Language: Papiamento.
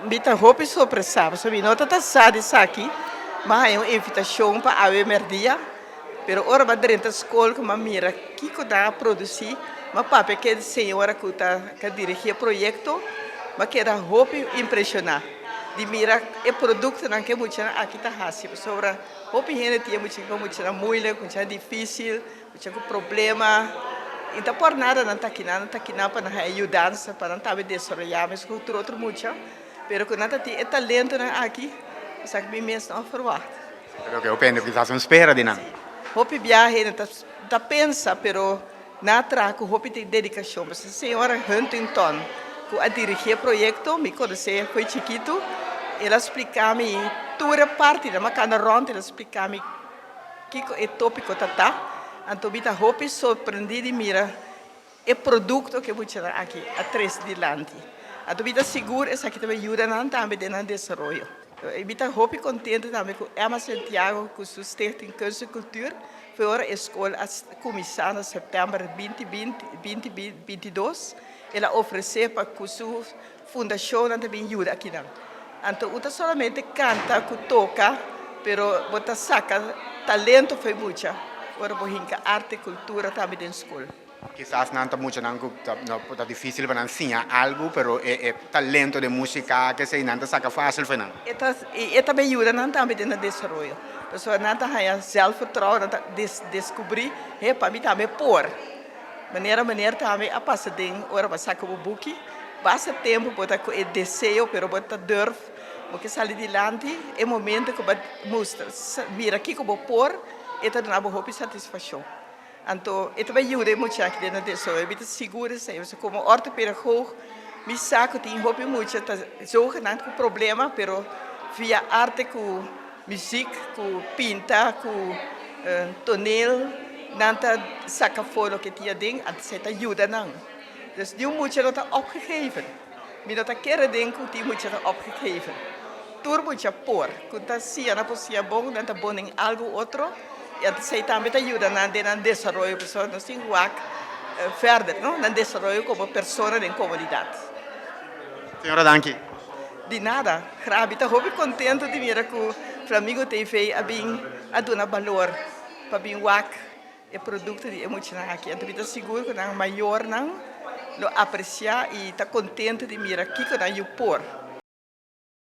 Bi ta hopi sorpresá pasobra bi no ta ta sa di esaki. Bo a haña un invitashon pa awe mèrdia, pero ora bo a drenta skol kò bo a mira kiko nan a produsí, bo a papia ku e señora ku ta dirigí e proyekto, bo a keda hopi impreshoná di mira e produktonan ku e muchanan aki ta hasi. Pasobra hopi hende tin e mucha muchanan moeilijk, muchanan difísil. Esha ku problema i ta por nada nan ta kina nan ta kina pa nan haña yudansa pa nan tambe desaroyá mesun ku tur otro mucha pero ku nan ta tin e talentonan aki esaki mi mes no a ferwagt. Pero ke hopi hende kisas no spera di nan. Hopi bia hende ta ta pensa pero nan a traha ku hopi dedikashon pasobra e señora Huntington ku a dirigí e proyekto mi konosé koe chikitu el a splika mi tur e partinan mi a kanda rònt el a splika mi. Kiko e tópiko ta ta, anto mi ta hopi sorprendí di mira e produkto ke muchanan aki a trese dilanti. Anto mi ta sigur esaki ta bin yuda nan tambe den nan desaroyo. I mi ta hopi kontento tambe ku Emma Santiago ku su Stichting Kunst en Kultuur for ora e skol a kuminsá na sèptèmber binti binti, binti binti, binti dos, el a ofresé pa ku su Fundashonnan ta bin yuda akinan. Anto u ta solamente kanta ku toka, pero bo ta saka talento fo'i mucha ora bo hinka arte, kultura tambe den skol. Kisas nan ta muchanan ku ta difísil pa nan siña algu, pero e talento den músika akí esei nan ta saka fásil fo'i nan. E ta i e ta bin yuda nan tambe den nan desaroyo, pasobra nan ta haña sèlfvertrouwen, nan ta deskubrí, he, pa mi tambe por. Manera manera tambe a pasa den ora bo a saka bo buki, basta tempu bo ta ku e deseo pero bo ta durf, bo ke sali dilanti, e momento ku bo a mustra mira kiko bo por e ta duna bo hopi satisfakshon. Anto e ta bay yuda e muchaki den nan so e bita sigur di señor pasobra komo ortopedagog mi sa ku tin hopi mucha ta yoga nan ku problema pero via arte ku. Muziek ku pinta ku tonel nan ta saka afo loke tin aden a esei ta yuda nan dus niun mucha no ta opgegeven mi no ta kere den ku tin mucha ta opgegeven tur mucha por ku ta siña nan por siña bon nan ta bon den algu otro i a esei tambe ta yuda nan den nan desaroyo pasobra nos tin wak verder no nan desaroyo komo persona den komunidat. Señora danki. Di nada, Rabi ta hopi contento di mira cu Flamigo TV a bin a duna balor pa bin wak e producto di e muchanan aki. Anto mi ta sigur cu nan mayornan lo aprecia y ta contento di mira kico nan yu por.